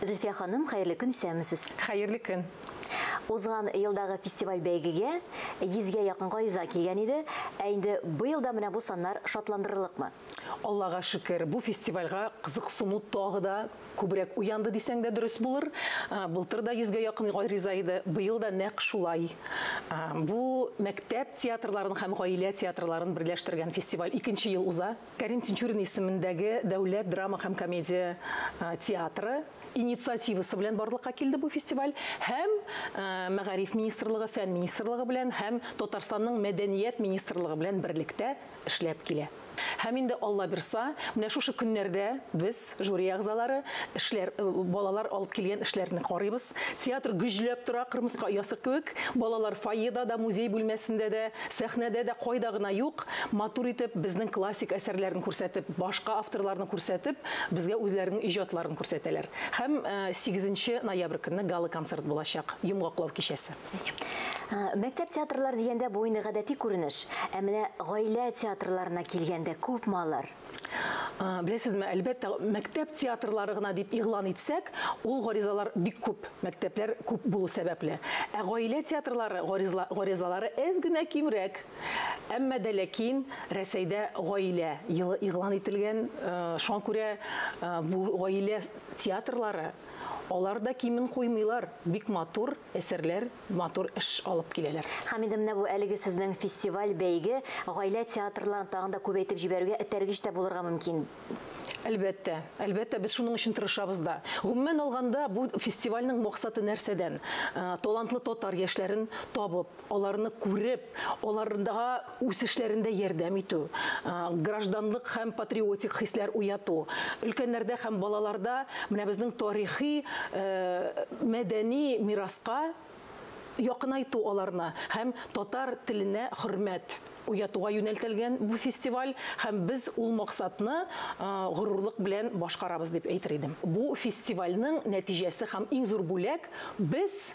Зөлфия ханым, хәерле көн, исәнмесез! Хәерле көн! Узган елдагы фестиваль-бәйгегә 100 гә якын гариза килгән иде, ә инде быел да менә бу саннар шатландырырлыкмы? Аллага шөкер, бу фестивальгә кызыксыну тагы да күбрәк уянды дисәң дә дөрес булыр. Былтыр да 100 гә якын гариза иде, быел да нәкъ шулай. Бу мәктәп театрларын һәм гаилә театрларын берләштергән фестиваль икенче ел уза. Кәрим Тинчурин исемендәге дәүләт драма һәм комедия театры инициативасы белән барлыкка килде бу фестиваль һәм Мәгариф министрлыгы, фән министрлыгы белән һәм Татарстанның мәдәният министрлыгы белән берлектә эшләп килә. Һәм инде Алла бирса, менә шушы көннәрдә без, жюри әгъзалары, эшләр, э, балалар алып килгән эшләрне карыйбыз. Театр гөжләп тора, кырмыска оясы кебек. Балалар фойеда да, музей бүлмәсендә дә, сәхнәдә дә, кайда гына юк. Матур итеп, безнең классик әсәрләрен күрсәтеп, башка авторларны күрсәтеп, безгә үзләренең иҗатларын күрсәтәләр. Һәм 8 нче ноябрь көнне гала-концерт булачак, йомгаклау кичәсе. Мәктәп театрлары дигәндә, бу инде гадәти күренеш. Ә менә гаилә театрларына килгәндә күпме алар? Беләсезме, әлбәттә, мәктәп театрлары гына дип игълан итсәк, ул гаризалар бик күп, мәктәпләр күп булу сәбәпле. Ә гаилә театрлары гаризалары әз генә кимрәк. Әмма дә ләкин Рәсәйдә гаилә елы игълан ителгән, шуңа күрә бу гаилә театрлары алар да кимен куймыйлар, бик матур, әсәрләр, матур эш алып киләләр. Хәмидә, менә бу әлеге сезнең фестиваль, бәйге гаилә театрларын тагын да күбәйтеп җибәрүгә этәргеч тә булырга мөмкин. Әлбәттә, әлбәттә, без шуның өчен тырышабыз да. Гомумән алганда, бу фестивальнең максаты нәрсәдән? Талантлы татар яшьләрен табып, аларны күреп, аларга үсешләрендә ярдәм итү, гражданлык һәм патриотик хисләр уяту, өлкәннәрдә һәм балаларда менә безнең тарихи, мәдәни мираска якынайту аларны һәм татар теленә хөрмәт уятуга юнәлтелгән бу фестиваль һәм без ул максатны горурлык белән башкарабыз дип әйтер идем. Бу фестивальнең нәтиҗәсе һәм иң зур бүләк, без,